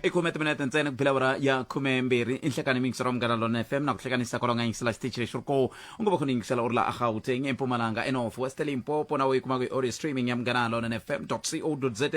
i khume timinete ntsena ku phela awara ya khume mbirhi i nhlekani mi yingisela munghana lona fm na ku hlekanisa kwalonga yingisela xitichi lexi ri ko u ngo va khona yingisela u ri la a gauteng empumalanga enof west limpopo nawe yi kumaka hi audio streaming ya munghana lona fm co za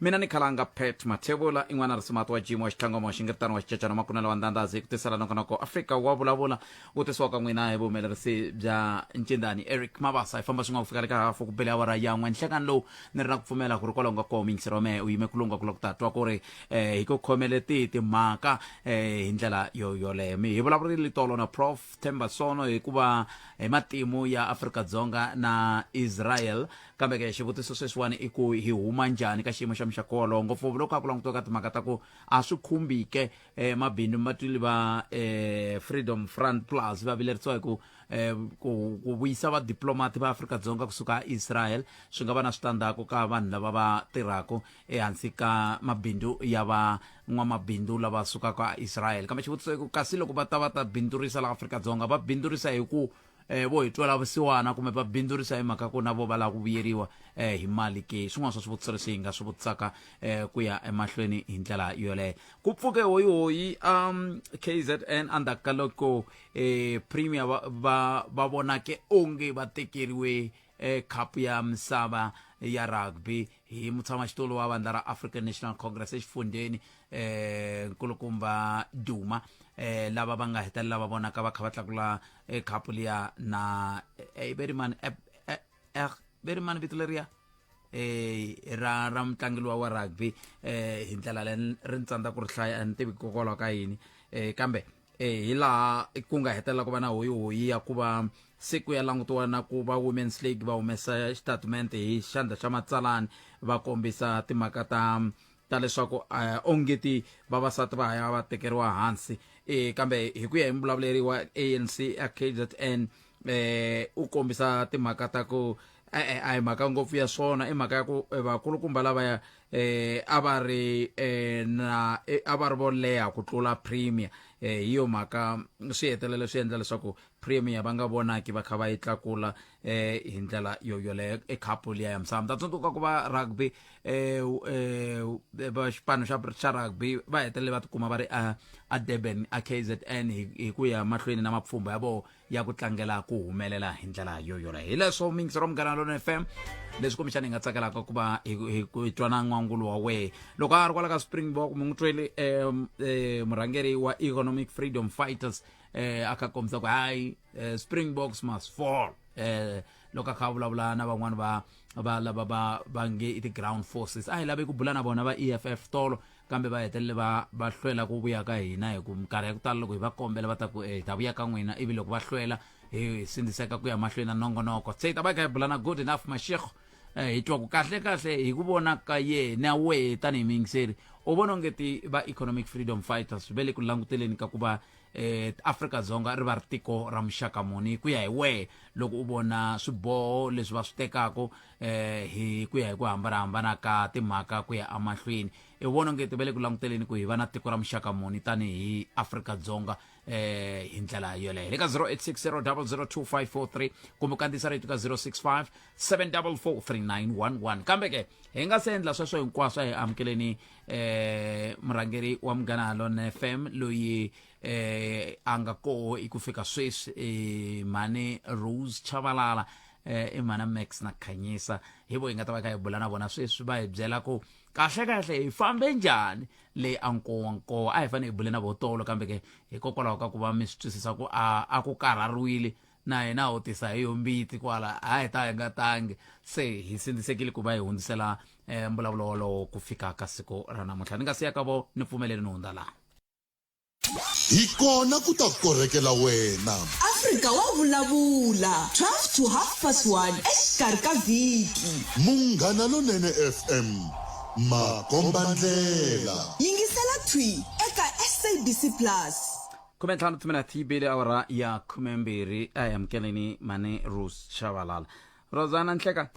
mina ni khalanga pet mathevula in'wana risumati wa jimo wa xitlhangoma wa xingiritano wa xicacana makunela wa ndandhazi hi ku tisela nokonoko afrika wa vulavula ku tirhisiwa ka n'wina hi vuhumelerisi bya ncindani eric mabasa hi famba swin'wana ku fika le ka hafu ku bele awara ya n'we nhlekani lowu ni ri na ku pfumela ku ri kwalaho nga koho miyingiseri wa mehe u yime ku lungha ku la ku ta twa ku ri um hi ku khomele tihi timhaka um hi ndlela yo yoleyo mi hi vulavurile tolo na prof tembasono hikuva hi matimu ya afrika dzonga na israel kambe ke xivutiso sweswiwani i ku hi huma njhani ka xiyimo xa muxako wolowo ngopfungopfu loko a ku langutiwa ka timhaka ta ku a swi khumbike eh, mabindu matwili va eh, freedom front plus va vilerisiwa hi ku eh, ku ku vuyisa vadiplomati va afrika-dzonga kusuka israel swi nga va na switandzhaku ka vanhu lava va tirhaka ehansi ka mabindu ya va n'wamabindu lava sukaka israel kambe xivutiso i ku kasi loko va ta va ta bindzurisa laha afrika-dzonga va bindzurisa hi ku eh vo hi twela vusiwana kumbe va bindzurisa hi mhaka ku na vo va lava ku vuyeriwa eh hi mali ke swin'wana swa swivutiso leswi hi nga swi vutisaka eh ku ya emahlweni hi ndlela yoleyo ku pfuke hoyihoyi um kzn endzhaku ka loko eh premier va va va vonake onge va tekeriwe ekhapu ya misava ya rugby hi mutshamaxitulu wa vandla ra african national congress exifundzheni eh nkulukumba duma eh lava va nga hetelela va vonaka va kha va tlakula eh, khapu liya na eh, berimani eh, eh, eh, berimani vito leriya eh ra ra mutlangi luwa wa rugby eh hi ndlela leyi ri ni tsandza ku ri hlaya a ni tivi hikokwalaho ka yini eh kambe e hi laha ku nga hetelela ku va na hoyihoyi ya ku va se ku ya langutiwa na ku va women's league va humesa xitatumente hi xandla xa matsalani va kombisa timhaka ta ta leswaku eh, ongeti vavasati va haya va tekeriwa hansi um kambe hi ku ya hi muvulavuleri wa anc a kzn eh u kombisa timhaka ta ku e-e a hi mhaka ngopfu ya swona i mhaka ya ku eh, vakulukumba lavaya eh a va ri eh na eh, a va ri vo leha ku tlula premier eh hi yo mhaka swi hetelela swi endla leswaku premier va nga vonaki va kha va yi tlakula eh hi ndlela yo yoleyo e khapu liya ya misava ta tsundzuka ku va rugby eh u- eh u- eh, va xipano xa xa rugby va hetelele va tikuma va ri a a Durban a KZN hi hi ku ya mahlweni na mapfhumba ya vona ya ku tlangela ku humelela hi ndlela yo yoleyo hi leswo mingisi ra munghana lona fm leswi kumbexana hi nga tsakelaka ku va hi twana n'wangulo wa wehe loko a ri kwala ka springbok mi n'wi tweli um eh, murhangeri wa economic freedom fighters um a kha kombisa ku hayi eh, springboks must fall um loko a kha a vulavula na van'wani va va lava va va nge i ti-ground forces a hi lavi ku bula na vona va e f f tolo kambe va hetelele va va hlwela ku vuya ka hina hi ku minkarhi ya ku tala loko hi va kombela va ta ku e hi ta vuya ka n'wina ivi loko va hlwela hi sindziseka ku ya mahlweni na nongonoko se hi ta va hi kha hi bulana good enough mashekho um hi twa ku kahle kahle hi ku vona ka yena wehe tanihi miyingiseri u vona onge ti va economic freedom fighters ve le ku languteleni ka ku va eh Afrika-Dzonga ri va ri tiko ra muxaka muni ku ya hi wehe loko u vona swiboho leswi va swi tekaka eh hi ku ya hi ku hambanahambana ka timhaka ku ya emahlweni i vona onge ti va le ku languteleni ku hi va na tiko ra muxaka muni tanihi Afrika-Dzonga eh hi ndlela yoleyo le ka 0860 double 02543 kumbe u kandziyisa rito ka 065 7443911 kambe ke hi nga se endla sweswo hinkwaswo hi amukeleni eh murhangeri wa munghana lone fm loyi eh a nga koho hi ku fika sweswi eh, mhani rose chavalala eh, i mhana max na khanyisa hi vo hi nga ta va kha hi bula na vona sweswi va hi byela ku kahle kahle hi fambe njhani leyi a nkowa nkowa a hi fanele hi bule na votolo kambe ke hikokwalaho ka ku va mi swi twisisa ku a a ku karhariwile na hina u tisa hi yombiti kwala a hi ta hi nga tangi se hi sindzisekile ku va hi hundzisela um mbulavulo wolowo ku fika ka siku ra namuntlha ni nga siya ka vo ni pfumeleli ni hundza laha hi kona ku ta korhekela wena afrika wa vulavula 12 to half past 1 exikarhi ka vhiki munghana lonene fm makombandlela yingisela thwi eka sabc plus khume ntlhanu timinete yi bile awara ya khumembirhi a hi amukeleni mhani rus xavalala rosana nhleka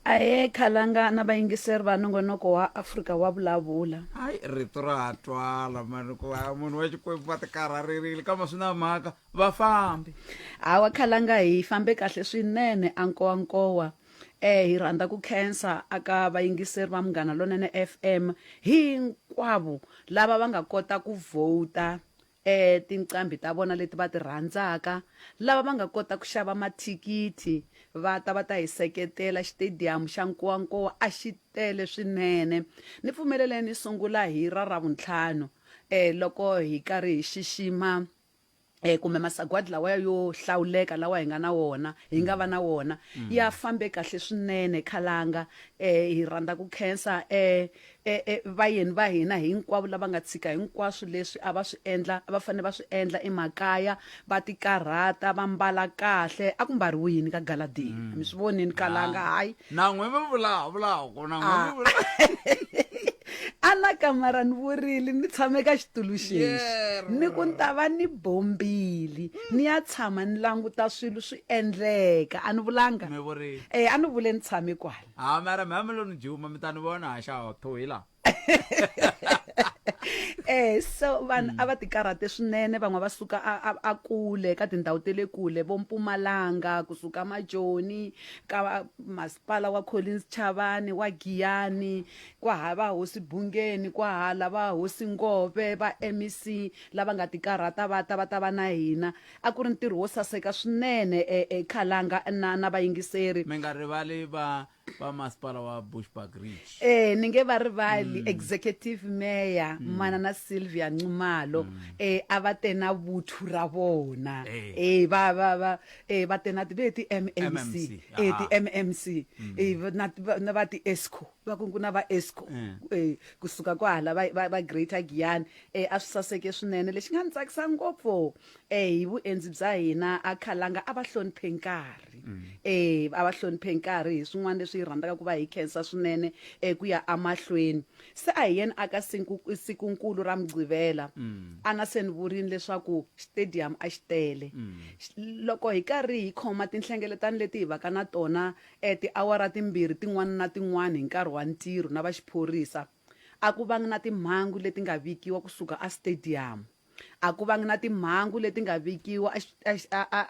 ahe khalanga na vayingiseri va nongonoko wa afrika wa vulavula hayi rito ra ha twala mani ku va munhu wa xikwembu va tikarharerile kama swi na mhaka va fambi hawa khalanga hi fambe kahle swinene a nkowa nkowa eh hi rhandza ku khensa aka vayingiseri va munghana lonene fm hinkwavo lava va nga kota ku vhota e tinqambi ta vona leti va ti rhandzaka lava va nga kota ku xava mathikithi va ta va ta hi seketela xitediyamu xa nkowankowa a xi tele swinene ni pfumelele ni sungula hi ra ravuntlhanu um loko hi karhi hi xixima eh kumbe masagwadi lawa yo hlawuleka lawa hi nga na wona hi nga va na wona mm. ya fambe kahle swinene khalanga eh hi rhandza ku khensa eh e, e, vayeni va hina hinkwavo lava nga tshika hinkwaswo leswi a va swi endla va fanele va swi endla emakaya va tikarhata va mbala kahle a ku mbariwi yini ka galadini mm. mi swi vonini kalanga ah. hayi na n'we mi vulavulako na n'we mi ah. vulavula a na kamara ni vurile ni tshame ka xitulu xexi ni ku ni ta va ni bombili ni ya tshama ni languta swilo swi endleka a ni vulanga um a ni vule ni tshame kwala ha mara mameloni juma mi ta ni vona ha xaho to hi laha eh so vanhu a va tikarhate swinene van'we va suka a- a- a kule ka tindhawu te le kule vo mpumalanga kusuka majoni ka va- masipala wa collins chavani wa giyani kwaha va hosi bungeni kwahala va hosi ngove va mec lava nga tikarhata va ta va ta va na hina A ku ri ntirho wo saseka swinene Khalanga na na vayingiseri. Mi nga rivali va va masipala wa Bushbuckridge. E, ni nge va rivali Executive Mayor Manana Sylvia Nxumalo. E, a va te na vuthu ra vona. E, va va va e va te na ti ve ti MMC. E, ti MMC. E, na na va ti Esco. Va ku ku na va Esco. E, kusuka kwahala va va Greater Giyani. E, a swi saseke swinene. Lexi nga ni tsakisa ngopfu. e hi vuendzi bya hina a khalanga a va hloniphe nkarhi e a va hloniphe nkarhi hi swin'wana leswi hi rhandzaka ku va hi khensa swinene e ku ya amahlweni se a hi yeni aka sikunkulu ra mugqivela a na se ni vurini leswaku stadium a xi tele loko hi karhi hi khoma tinhlengeletano leti hi vaka na tona um tiawara timbirhi tin'wana na tin'wana hi nkarhi wa ntirho na va xiphorisa a ku vangi na timhangu leti nga vikiwa kusuka a stadium a ku vangi na timhangu leti nga vikiwa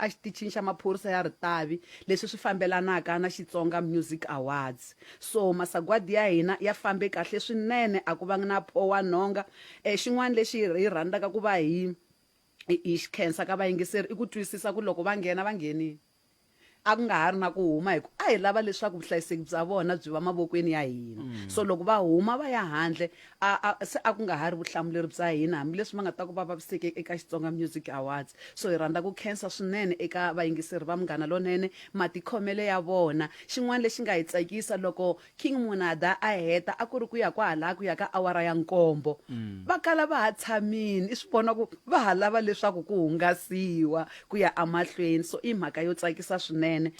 exitichini xa maphorisa ya ritavi leswi swi fambelanaka na xitsonga music awards so masagwadi ya hina ya fambe kahle swinene a ku vangi na pho wa nhonga um xin'wana lexi hi rhandzaka ku va hi hi xi khensa ka vayingiseri i ku twisisa ku loko va nghena va nghenile a ku nga ha ri na ku huma hi ku a hi lava leswaku vuhlayiseki bya vona byi va mavokweni ya hina mm. so loko va huma va ya handle se a ku nga ha ri vuhlamuleri bya hina hambileswi va nga ta ku va vaviseke eka xitsonga music awards so hi rhandza ku khensa swinene eka vayingiseri va munghana lonene matikhomele ya vona xin'wana lexi nga hi tsakisa loko King Monada a heta a ku ri ku ya kwahalaya ku ya ka awara ya nkombo va kala va ha tshamini i swi vona ku va ha lava leswaku ku hungasiwa ku ya emahlweni so i mhaka yo tsakisa swinene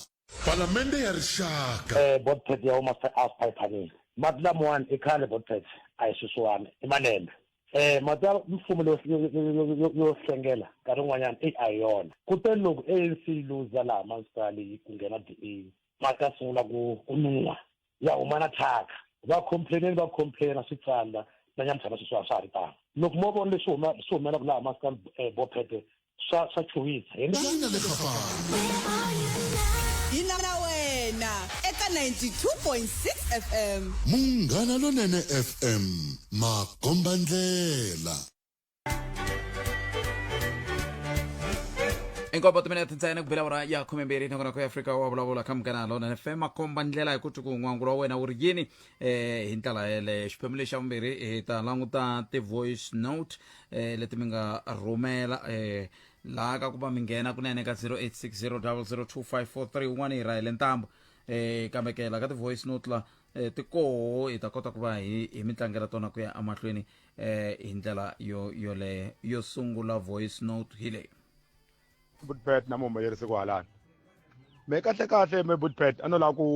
Palamende ya Rixaka. Eh bot pet ya huma se after hi phanile mati lamawani i khale bot pet a hi sweswiwani i malembe eh mati ya mfumo yo yo yo hlengela nkarhi wun'wanyana eyi a hi yona kutani loko ANC yi luza laha municipal yi ku nghena DA va ta sungula ku ku nuwa ya huma na thyaka va complaineni va complaina swi tsandza na nyamutlhana sweswi a swa ha ri tano loko mo vona leswi huma swi humelaka laha maskani eh, bophete swa swa chuwisa hi tanga le kafana hi na na wena eka 92.6 fm munghana lonene fm makombandlela inkombo timinete ntsena ku bela ura ya khumembirhi nongonoko ya afrika wa vulavula ka munghana lona fm komba ndlela hi ku ti ku n'wangulo wa wena wu ri yini eh hi ndlela yeleyo xiphemu lexi xa vumbirhi hi ta languta ti-voice note eh leti mi nga rhumela eh laha ka ku va mi nghena kunene ka 0860 0025431 hi rahele ntambo eh kambe ke la ka ti-voice note la eh, ti koho hi ta kota ku va hi hi mi tlangela tona ku ya emahlweni um hi ndlela yo yoleyo yo sungula voice note hi leyi budpet na muhumelerisi ku halani me kahle kahle me budpet a no lava ku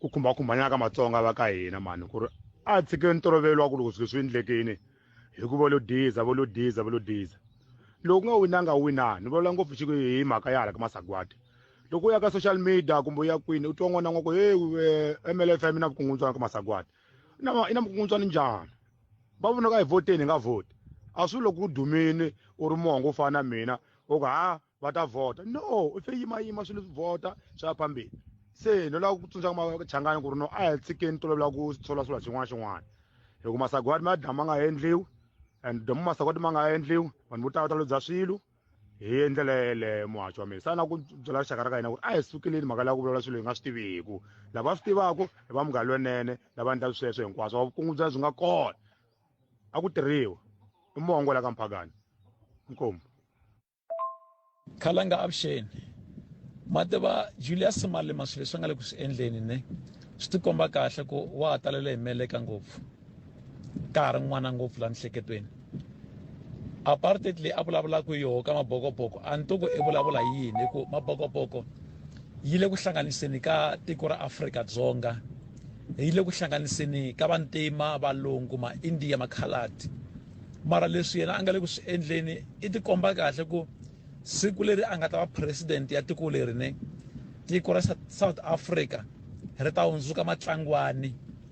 ku khumbakhumbanyaka matsonga va ka hina mani ku ri a tshikeni ntolovelo wa ku loko swilo swi endlekini hi ku volo diza volo diza volo diza loko nga winanga winani ni vulavula ngopfu xi hi mhaka ya hala ka masagwadi loko u ya ka social media kumbe u ya kwini u twa n'wana n'wa ku hey eh, mlfm i na vukungundzwana ka masagwadi i na i na vukungundzwana njhani va vona ka hi voteni hi nga vhoti a swi loko u dumini u ri mongo u fana na mina u ku ha va ta vhota no u fe yimayima swilo swi vhota swi ya phambili se no lava ku tsundzuxa machangani ku ri no a hi tshikeni tolovela ku tshola swilo xin'wana xin'wana hi ku masagwadi ma dya ma nga endliwi and domu masagwadi ma nga endliwi vanhu vo tala va ta lobya swilo hi endlela yeleyo muhatsho wa mina sa na ku byela rixaka ra ka hina ku ri a hi sukeleni mhaka leya ku vulavula swilo hi nga swi tiviku lava swi tivaka hi va munghana lonene lava endla sweswo hinkwaswo vukungu bya byi nga kona a ku tirhiwa i mongo la ka mphakani inkomu khalanga avuxeni mativa julius malema swilo leswi a nga le ku swi endleni ne swi tikomba kahle ku wa ha talele hi meleka ngopfu ka ha ri n'wana ngopfu la mihleketweni apartheid leyi a vulavulaka hi yoho ka mabokoboko a ni to ku i vulavula hi yini hi ku mabokoboko yi le ku hlanganiseni ka tiko ra afrika dzonga yi le ku hlanganiseni ka vantima valungu ma-india makhaladi mara leswi yena a nga le ku swi endleni i tikomba kahle ku siku leri a nga ta va president ya tiko leri ne tiko ra south africa ri ta hundzuka matlangwani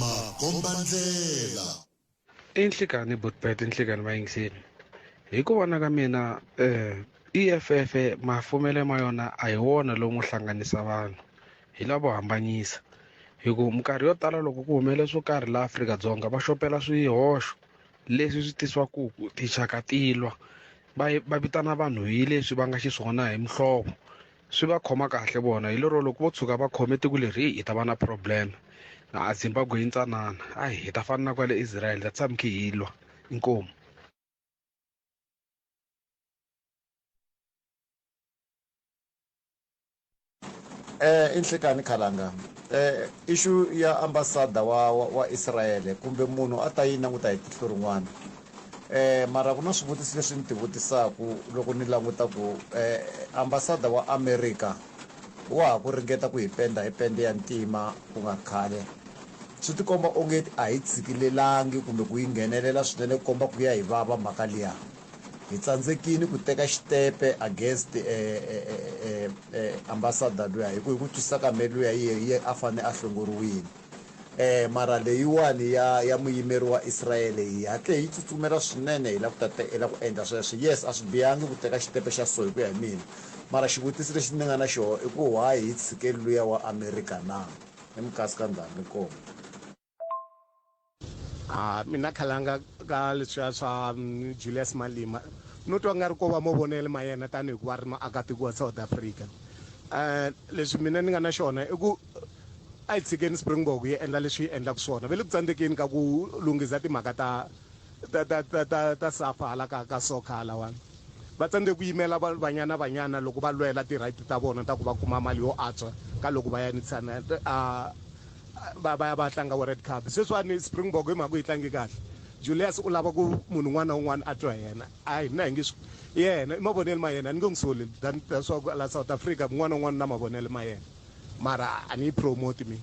makombandlela. I nhlikani butbet nhlikani vayingiseli hi ku vona ka mina um eff mafumele ma yona a hi wona lowu n'wi hlanganisa vanhu hi lavo hambanyisa hi ku minkarhi yo tala loko ku humelele swo karhi laha afrika-dzonga va xopela swihoxo leswi swi tisiwaku tinxaka ti lwa va va vitana vanhu hi leswi va nga xiswona hi muhlovo swi va khoma kahle vona hi lero loko vo tshuka va khome tiko leri hi ta va na problem a zimbabwe yi ntsanana a hi ta fana na kwale israel that's why mikhe hi lwa inkomu eh inhlekani khalanga eh issue ya ambassador wa wa Israel kumbe munhu a ta yi languta hi tihlo rin'wana Eh, mara ku na swivutiso leswi ni ti vutisaku loko ni languta ku eh, ambasada wa america wa ha ku ringeta ku hi penda hi pende ya ntima ku nga khale swi tikomba onge a hi tshikilelangi kumbe ku yi nghenelela swinene ku komba ku ya hi vava mhaka liya hi tsandzekini ku teka xitepe against eh, eh, eh, eh, eh, ambasada luya hi ku hi ku twisisa ka me luya yi a fanele a hlongoriwile E, mara leyiwani ya, ya muyimeri wa Israele yi hatle hi tsutsumela swinene hi la ku ta te, hi la ku endla sweswo. Yes, a swi bihangi ku teka xitempe xa so, hi ku ya hi mina. Mara xivutiso lexi ni nga na xoho i ku, why hi tshike luya wa Amerika na? Hi minkasikandhani. Inkomu. ha mina khalanga ka leswiya swa mm, julius malima no twa nga ri ko va mavonelo ma yena tanihi ku va ri maakatiko wa south africa um leswi mina ni nga na xona i ku a yi tshikeni springbok yi endla leswi yi endlaka swona ve le ku tsandzekeni ka ku lunghisa timhaka ta ta ta ta ta ta safa hala ka ka soccer halawani Va tsandzeke ku yimela Banyana Banyana loko va lwela ti right ta vona ta ku va kuma mali yo antswa ka loko va ya ni va va ya va tlanga World Cup. Sweswiwani Springbok hi mhaka ku yi tlange kahle, Julius u lava ku munhu un'wana na un'wana a twa hi yena. A hina hi nge swi i yena i mavonelo ma yena ni nge n'wi soli than swa ku la South Africa un'wana na un'wana u na mavonelo ma yena mara a ni yi promote mina.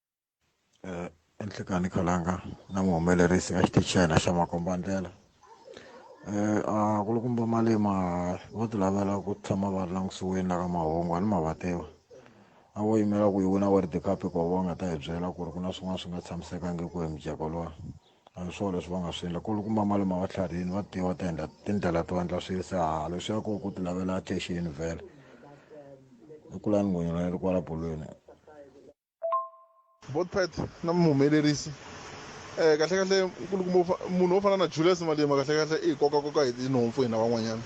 eh, enhlekani khalanga na muhumelerisi ka xitichi xa hina xa makombandlela eh, a ku ri kumba malema vo ti lavela ku tshama va ri langutisiweni la ka mahungu a ni mavatewa a wo yimela ku yi wina world cup hikuva va nga ta hi byela ku ri ku na swin'wana swi nga tshamisekangiki hi mujeko lowa a hi swona leswi va nga swi endla ku ri kumba malema va tlharihini va tiva ta endla tindlela to endla swilo se ha leswi ya ku ku ti lavela attention vhele i kula ni ngonyana leri kwala bolweni both pat na muhumelerisi um kahlekahle nkulukumba munhu wo fana na julius malima kahlekahle i hi kokakoka hi tinhompfu hina van'wanyana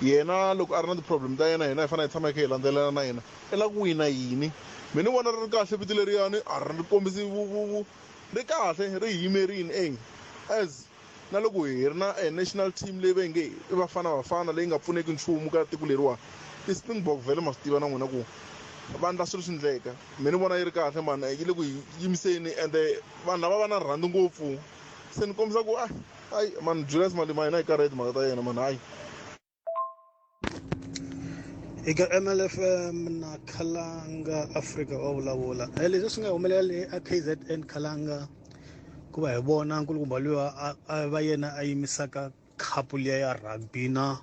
yena loko a ri na ti-problem ta yena hina hi fanele hi tshama hi kha hi landzelela na yena i la ku wina yini mi ni vona ri ri kahle vito leriyani a ri kombisi ri kahle ri yimerini e as Na loko hi ri na national team leyi va nge i Bafana Bafana leyi nga pfuneki nchumu ka tiko leriwani, i Springbok vhele ma swi tiva na n'wina ku va endla swilo swi ndleka. Me ni vona yi ri kahle mhani yi le ku hi yimiseni ende vanhu lava va na rhandi ngopfu se ni kombisa ku a hayi mhani Julius Malema hina hi karhele hi timhaka ta yena mhani hayi. eka mlfm na khalanga africa wa vulavula eh, leswi swi nga humelela le a kzn khalanga ku va hi vona nkulukumba luya a va yena a yimisaka khapu liya ya rugby na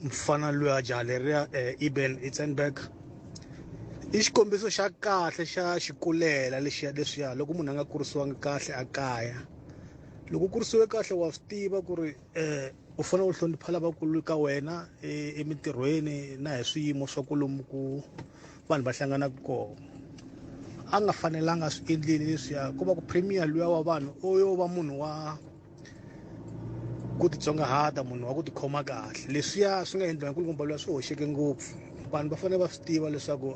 mfana luya jaleria um eh, eben itsenberg i xikombiso xa kahle xa xikulela lexiya leswiya loko munhu a nga kurisiwangi kahle a kaya loko kurisiwe kahle wa swi tiva ku ri eh u fanele u hlonipha lavakulu ka wena e, emintirhweni na hi swiyimo swa ku lomu ku vanhu va hlanganaka kona a nga fanelanga swi endleni leswiya ku va ku premier luya wa vanhu u yo va munhu wa ku titsongahata munhu wa ku tikhoma kahle leswiya swi nga endliwa hi nkulukumba luya swi hoxeke ngopfu vanhu va fanele va swi tiva leswaku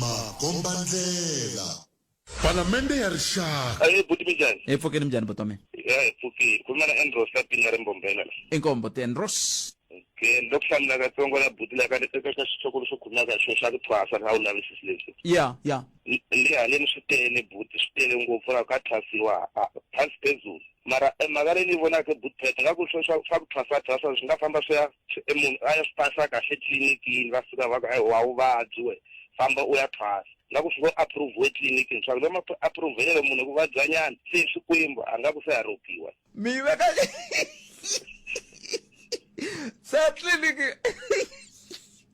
makombandlela. Palamende ya Rixaka. Ahee buti minjhani? Hi pfukile minjhani buti wa mina? Ya hi pfukile. Ku na Andros la pinga ri mbombela la. Inkombo ti Andros. Okay, ni lo ku hlamula katsongo la buti la ka ni teka ka xitshokolo xo khuluma ka xo xa ku thwasa na wu lavisisi leswi. Ya, ya. Le haleni swi tele buti swi tele ngopfu la ka thwasiwa phasi phezulu. Mara mhaka leyi ni vonaka buti phete nga ku swo swa ku thwasa thwasa swi nga famba swi ya se e munhu a ya swi phasa kahle tliliniki va fika va ku ayi wa vuvabyi we famba u ya phasa nga ku fika approve etliliniki ni swaku lama approvelelo munhu ku vabyanyana se xikwembu a nga ku se a ropiwa mi veka se tliliniki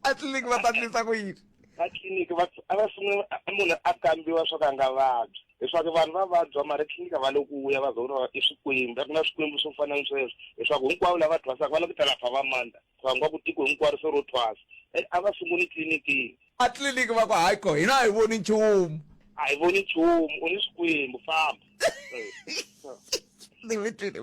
atliliniki va ta tlisa ku yini atliliniki va a va sungula munhu a kambiwa swa ku a nga vabyi leswaku vanhu va vabya mara tliliniki va le ku ya va za va i swikwembu a ku na swikwembu swo fana ni sweswo leswaku hinkwavo lava thwasaka va lava ku ta lapha va mandla va nga ku tiko hinkwaro se ro thwasa e a va sunguli tliliniki a tliliniki va ku hayi ko hina a hi voni nchumu a hi voni nchumu u ni swikwembu famba ni vitile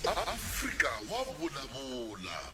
afrika wa vulavula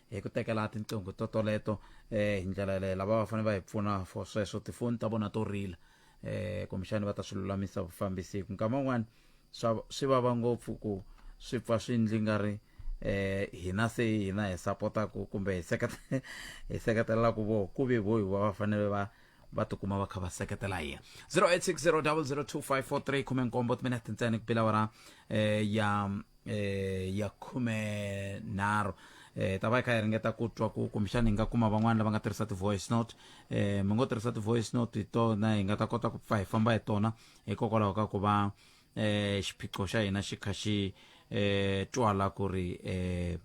hi ku tekela tinqingho to toleto eh hi ndlela leyi lava va fanele va hi pfuna for sweswo tifoni ta vona to rila eh kumbexani va ta swi lulamisa vufambisi hi ku nkama wun'wani swi vava ngopfu ku swi pfa swi ndli nga ri eh hina se hina hi sapotaku kumbe hi seketela hi seketelelaku voho ku ve vohi va va fanele va va tikuma va kha va seketela hi 0860002543 khume nkombo timinete ntsena ku pila wara eh ya eh, ya khume nharhu eh, ta va yi kha yi ringeta ku twa ku kumbexana hi nga kuma van'wana lava nga tirhisa ti-voice note eh, mi ngo tirhisa ti-voice note hi tona hi nga ta kota ku pfa hi famba hi tona hikokwalaho ka ku va eh, xiphiqo xa hina xi kha xi eh, twala ku ri eh,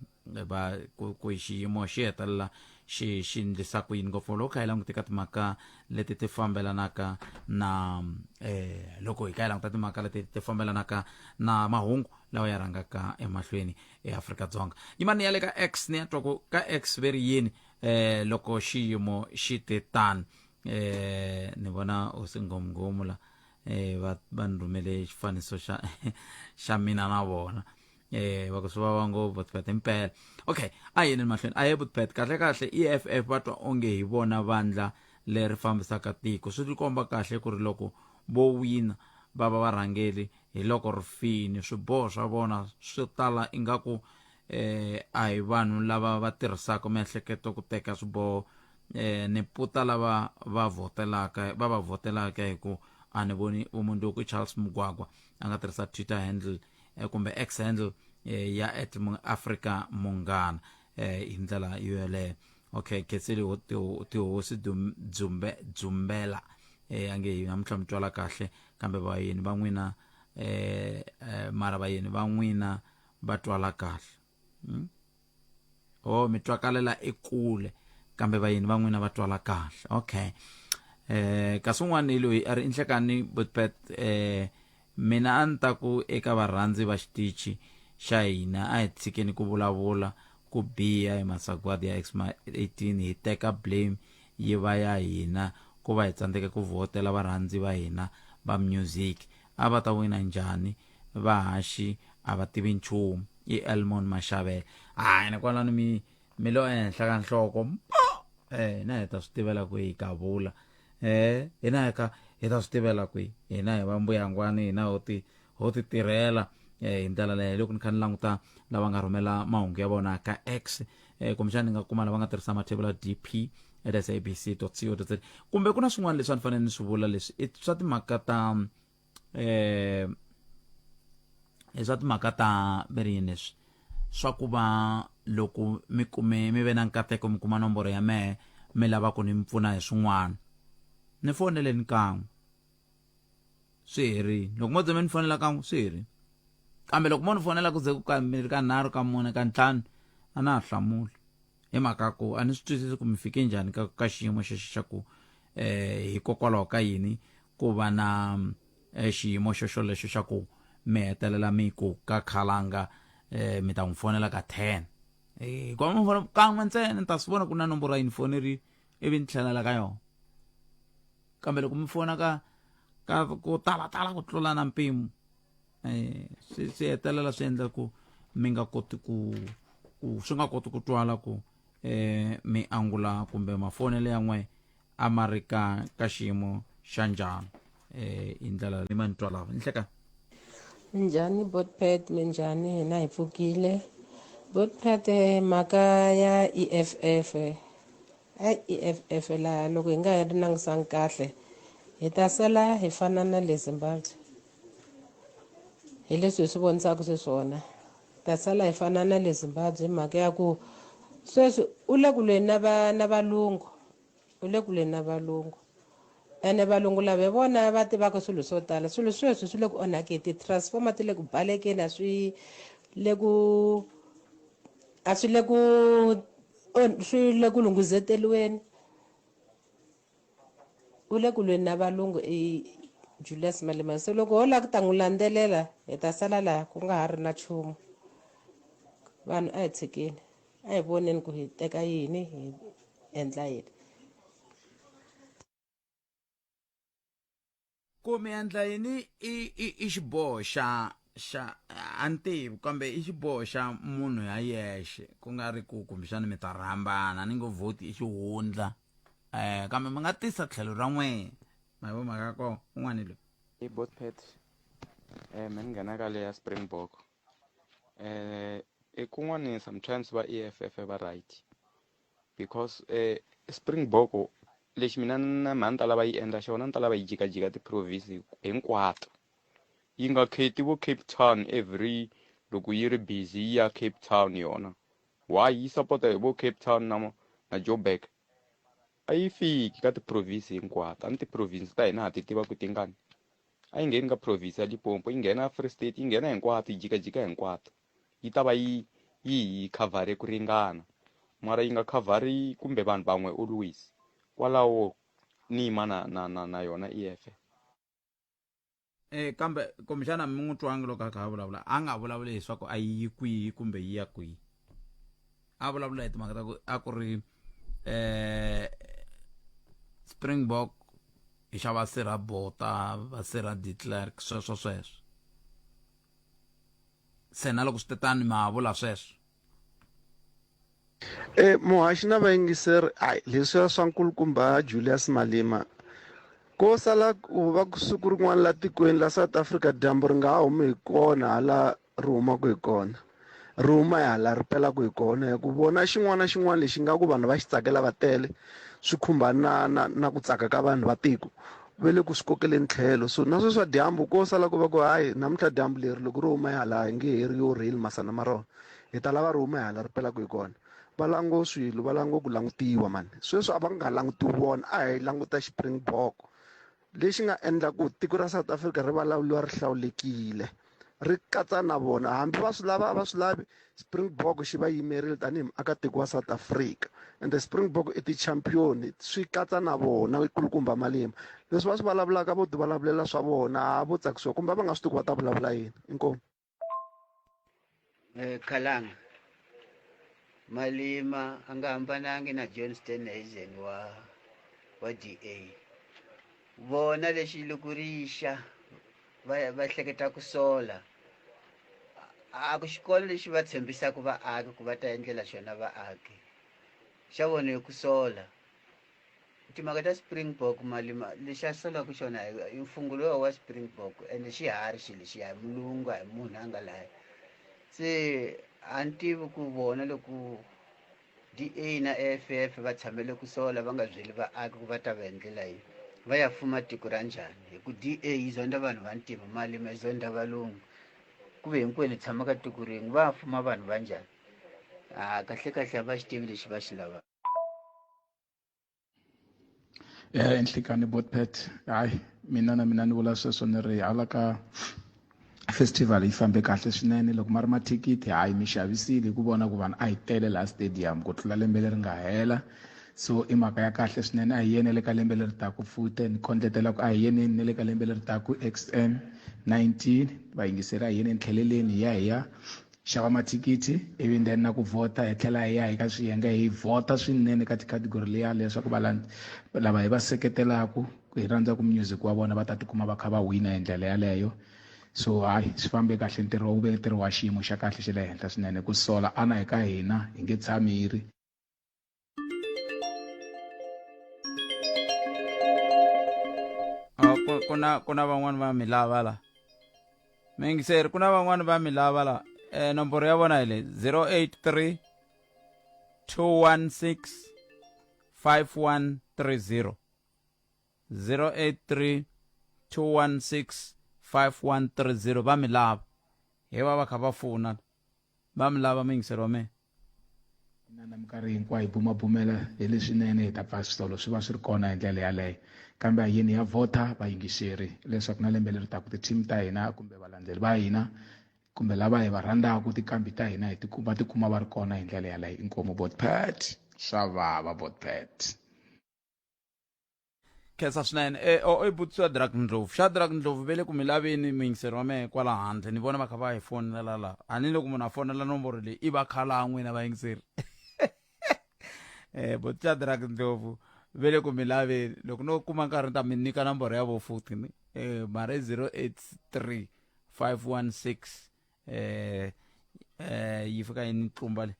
va ku, ku hi xiyimo xi hetelela xi xi ndlisa ku yini ngopfu loko kha hi languteka timhaka leti ti fambelanaka na um loko hi kha hi languta timhaka leti ti fambelanaka na mahungu lawa ya rhangaka emahlweni eafrika-dzonga yimani ya le ka x ni ya twa ku ka x ve ri yini um loko xiyimo xi te tani eh ni vona u singomngomula eh va va ni rhumele xifaniso xa xa mina na vona eh wa ku swi vava ngopfu botpet impela okay a yini mahlweni a ye botpet kahle kahle eff va twa onge hi vona vandla leri fambisaka tiko swi ri komba kahle ku ri loko vo wina va va varhangeli hi loko ri fini swiboho swa vona swi tala ingaku eh a hi vanhu lava va tirhisaka miehleketo ku teka swiboho eh ni puta lava va votelaka va va votelaka hi ku a ni voni vumundzuku charles mugwagwa a nga tirhisa twitter handle eh, kumbe x handle eh, ya at Mu- africa munghana eh, hi ndlela yo yeleyo okay khetseli ho- tiho- tihosi Dum- dzumbe dzumbela eh, ange hi namuntlha mi twala kahle kambe vayeni va n'wina eh, eh, mara vayeni va n'wina va twala kahle hmm? oh mi twakalela ekule kambe vayeni va n'wina va twala kahle okay eh kasi un'wana loyi a ri inhlekani botpet eh mina a ni ta ku eka varhandzi va xitichi xa hina a hi tshikeni ku vulavula ku biha hi masagwadi ya xma 18 hi teka blame yi va ya hina ku va hi tsandzeke ku vhotela varhandzi va hina va music a va ta wina njhani vahaxi a va tivi nchumu i elmon maxavela hayi ni kwalano mi mi lo ehenhla ka nhloko mbo eh hina hi ta swi tivela ku hi gavula eh hina hi ka hi ta swi tivela ku hina hi va mbuyangwani hina ho ti ho ti tirhela eh hi ndlela leyo loko ni kha ni languta lava nga rhumela mahungu ya vona ka x eh kumbexana ni nga kuma lava nga tirhisa mathebula dp at sabc co za kumbe ku na swin'wana leswi a ni fanele ni swi vula leswi i swa timhaka ta eh i swa timhaka ta veri leswi swa ku va loko mi kume mi ve na nkateko mi kuma nomboro ya mehe mi lava ku ni mi pfuna hi swin'wana ni foneleni kan'we swi herile loko mo ze mi ni fonela kan'we swi herile kambe loko mo ni fonela ku ze ku kambirhi ka nharhu ka mune ka ntlhanu a na ha hlamuli hi mhaka ku a ni swi twisisi ku mi fike njhani ka ka xiyimo xexo xa ku um hikokwalaho ka yini Ku va na xiyimo xoxolexo xa ku mi hetelela mi ku ka Khalanga mi ta n'wi fonela ka ten hikuva mi fona kan'we ntsena ni ta swi vona ku na nomboro yi ni fonerile ivi ni tlhelela ka yona kambe loko mi fona ka ka ku talatala ku tlula na mpimo um swi swi hetelela swi endla ku mi nga koti ku ku swi nga koti ku twala ku um mi angula kumbe mafonelo ya n'wehe a ma ri ka ka xiyimo xa njhani um hi ndlela leyi ma ni twa lava nhlekani njhani botpad minjhani hina hi pfukile botpad eh, mhaka ya e f f eh. a e f f laha loko hi nga yi ri langusangi kahle hi ta sala hi fana na le zimbabwe hi leswi hi swi vonisaka xiswona ta sala hi fana na le Zimbabwe hi mhaka ya ku sweswi u le kulweni na va na valungu u le kulweni na valungu ene valungu lava hi vona va tivaka swilo swo tala swilo sweswi swi le ku onhakeni ti-transformer ti le ku balekeni a swi le ku a swi le ku swi le ku lunghizeteriweni u le ku lweni na valungu i julius malema so loko ho lava ku ta n'wi landzelela hi ta sala laha ku nga ha ri na nchumu vanhu a hi tshikeni a hi voneni ku hi teka yini hi endla yini ku mi endla yini i i i xiboho xa xa a ni tivi kambe i xiboho xa munhu ya yexe ku nga ri ku kumbexana mi ta rhambana ni ngo vhoti i xihundla um kambe mi nga tisa tlhelo ra n'wina ma yi vo mhaka ko un'wana hi loyi i botpet um eh, mi ni nghena ka leya springbok eh i kun'wani sometimes va EFF va right because eh Springbok lexi mina na mhani ta lava yi endla xona ni ta lava yi jikajika ti-province hinkwato yi nga kheti vo Cape Town every loko yi ri busy yi ya Cape Town yona why yi sapota hi vo Cape Town na na Joburg a yi fiki ka ti-province hinkwato a ni ti-province ta hina ha ti tiva ku tingani a yi ngheni ka province ya Limpopo yi nghena Free State yi nghena hinkwato yi jikajika hinkwato yi ta va yi yi hi cover ku ringana mara yi nga cover kumbe vanhu van'we always kwalaho ni yima na na na na yona EFF eh kambe kumbexana mi n'wi twangi loko a kha a vulavula a nga vulavuli leswaku a yi yi kwihi kumbe yi ya kwihi a vulavula hi timhaka ta ku a ku ri eh springbok hi xa va sirha bota va sirha de clerk sweswo sweswo se na loko swi te tani ma vula sweswo e muhaxi na vayingiseri ayi leswiya swa nkulukumba julius malima ko sala ku va siku rin'wana la tikweni la south africa dyambu ri nga ha humi hi kona hala ri humaka hi kona ri huma hala ri pelaka hi kona hi ku vona xin'wana na xin'wana lexi nga ku vanhu va xi tsakela va tele swi khumba na na na ku tsaka ka vanhu va tiko ve le ku swi kokeleni tlhelo so na sweswa dyambu ko sala ku va ku hayi namuntlha dyambu leri loko ri huma hala hi nge he ri yo rheli masana ma rona hi ta lava ri huma hala ri pelaka hi kona va lango swilo va lango ku langutiwa mani sweswi a va nga langutiwi vona a hi languta xipringbok lexi nga endla ku tiko ra south africa ri vulavuriwa ri hlawulekile ri katsa na vona hambi va swi lava a va swi lavi springbok xi va yimerile tanihi muakatiko wa south africa and the springbok i ti-champion swi katsa na vona ikulukumba malima leswi va swi vulavulaka vo ti vulavulela swa vona a vo tsakisiwa kumbe va nga swi tiku va ta vulavula yini inkomu eh, Kalanga Malima angahambanangi na John Steenhuisen wa wa DA vona lexi lokurixa va va hleketa ku sola a ku xikolo lexi va tshembisaka vaaki ku va ta endlela xona vaaki xa vona hi ku sola timhaka ta springbok malima lexi a solaku xona i mfungu lowa wa springbok ende xi hari xi lexiya hi mulungu a hi munhu a nga laya se a ni tivi ku vona loko d a na a f f va tshamele ku sola va nga byeli vaaki ku va ta va hi ndlela yini va ya fuma tiko ra njhani hi ku d a yi zonda vanhu va ntima malima yi zonda valungu ku ve hinkwenu hi tshama ka tiko rin'we va fuma vanhu va njhani a kahlekahle a va xi tivi lexi va xi lavaka eh nhlikani botpet hayi mina na mina ni vula sweswo ni ri hala ka festival yi fambe kahle swinene loko ma ri mathikithi hayi mi xavisile hi ku vona ku vanhu a hi tele laha stadium ku tlula lembe leri nga hela so i mhaka ya kahle swinene a hi yene le ka lembe leri taku fute ni kondletela ku a hi yeneni ne le ka lembe leri taku xm 19 vayingiseri a hi yeneni tlheleleni hi ya hi ya xava mathikithi ivi then na ku vhota hi tlhela hi ya hi ka swiyenge hi vhota swinene ka ticategory leya leswaku lava hi va seketelaku hi rhandzaka music wa vona va ta tikuma va kha va wina hi ndlela yaleyo so hayi swi fambe kahle ntirho wu ve ntirho wa xiyimo xa kahle xa le henhla swinene ku sola ana hi ka hina hi nge tshami hi ri Ah, ku- ku na ku na van'wani va mi lava la mingiseri ku na van'wani va mi lava la eh, nomboro ya vona hi le 083 216 5130 083 216 5130 va mi lava hi va va kha va fona va mi lava mingiseri wa mina inana minkarhi hinkwayo hi bumabumela hi leswinene hi ta pfa switolo swi va swi ri kona hi ndlela yaleyo kambe a yini ya vhota vayingiseri leswaku na lembe leri taku ti-team ta hina kumbe valandzeli va hina kumbe lava hi va rhandzaka tikambi ta hina va tikuma va ri kona hi ndlela yaleyo inkomu botpat swa vava botpat khensa swinene e, o i butsu ya drak ndlovu xa drak ndlovu ve le ku mi laveni muyingiseri wa mehe kwala handle ni vona va kha va hi fonela la a ni loko munhu a fonela nomboro leyi i va khala n'wina vayingiseri um butsu ya drak ndlovu ve le ku mi laveni loko no kuma nkarhi ni ta mi nyika nomboro ya vo futhi ni um mara i zero eight three five one six um um yi fika yi ni tlumba le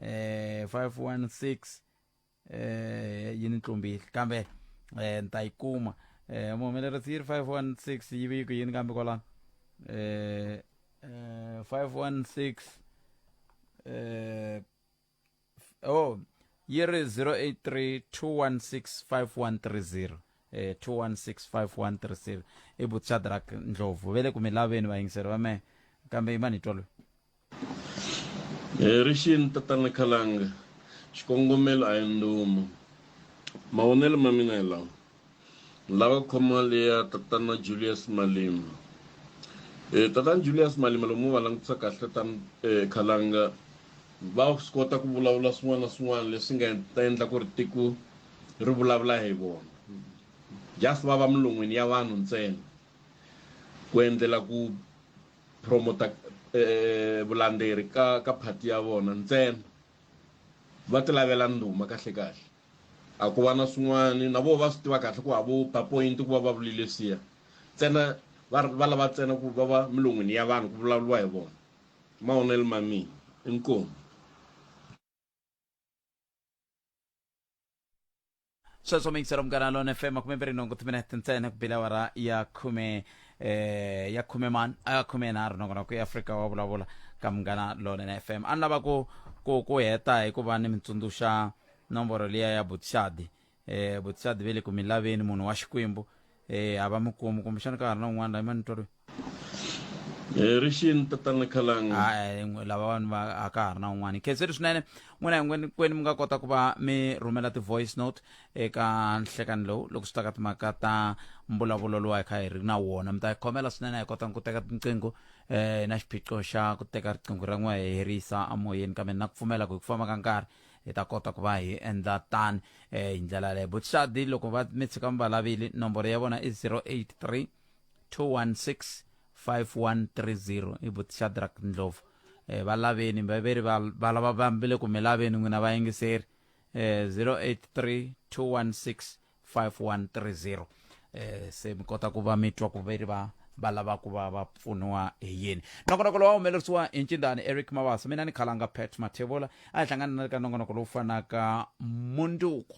um five one six eh yi ni tlumbile kambe eh ni ta yi kuma eh muhumelerisi yi ri 516 yi viki yini kambe kwalano eh eh 516 eh oh yi ri 083 216 5130 eh 216 5130 i butshadrak ndlovu ve le ku mi laveni vayingiseri va mehe kambe i manitwa loyi Hi ri xini tatana Khalanga, xikongomelo a hi ndhuma. Mavonelo ma mina hi lawa, ni lava khoma leya tatana Julius Malema. E tatana Julius Malema loko mo va langutisa kahle tatana eh, Khalanga va swi kota ku vulavula swin'wana na swin'wana leswi nga ta endla ku ri tiko ri vulavula hi vona just va va milon'wini ya vanhu ntsena ku endlela ku promoter eh, vulanderi ka ka party ya vona ntsena va ti lavela ndhuma kahle kahle a ku va na swin'wana na vo va swi tiva kahle ku havo ba point ku va va vulile siya ntsena va va lava ntsena ku va va milon'wini ya vanhu ku vulavuriwa hi vona mavonelo ma mina inkomu sweswo mixer omugana lona fm makhume mbirhi nhungu ti minete ntsena ku bile awara ya khume eh, ya khume man a khume nharhu nakona ku afrika wa vulavula ka munghana lonene fm a ni lava ku ku ku heta hi ku va ni mi tsundzuxa nomboro liya ya butixadi eh, butixadi ve le ku mi laveni munhu wa xikwembu eh, a va mi kumi kumbexana ka ha ri na un'wana la i manitwa loyi Eh, ri xini tatana khalanga Ai, n'we- lava vanhu va a ka ha ri na un'wana khenseri swinene n'wina hinkwenikwenu mi nga kota ku va mi rhumela ti-voice note eka nhlekani lowu loko swi ta ka timhaka ta mbulavulo lowu hi kha hi ri na wona mi ta hi khomela swinene a hi kotanga ku teka tinqingho eh na xiphiqo xa ku teka riqingho ra n'we hi herisa amoyeni kambe na ku pfumela ku hi ku famba ka nkarhi hi ta kota ku va hi endla tani eh hi ndlela leyo butshadi loko va mi tshika mi va lavile nomboro ya vona i 083 216 5130 i but shadrack ndlovu eh, va laveni va ve ri va va lava va mi le ku mi laveni n'wina vayingiseri eh, 083 216 5130 eh, se mi kota ku va mi twa ku ve ri va va lava ku va va pfuniwa hi yini nongonoko lowu wa humelerisiwa hi ncindani eric mavasa mina ni khalanga pat mathevola a hi hlangana na le ka nongonoko lowu fanaka munduku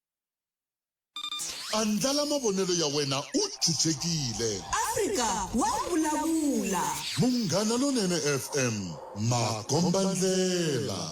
Andlala mavonelo ya wena u chuchekile. Afrika wa vulavula. Munghana Lonene FM, makombandlela.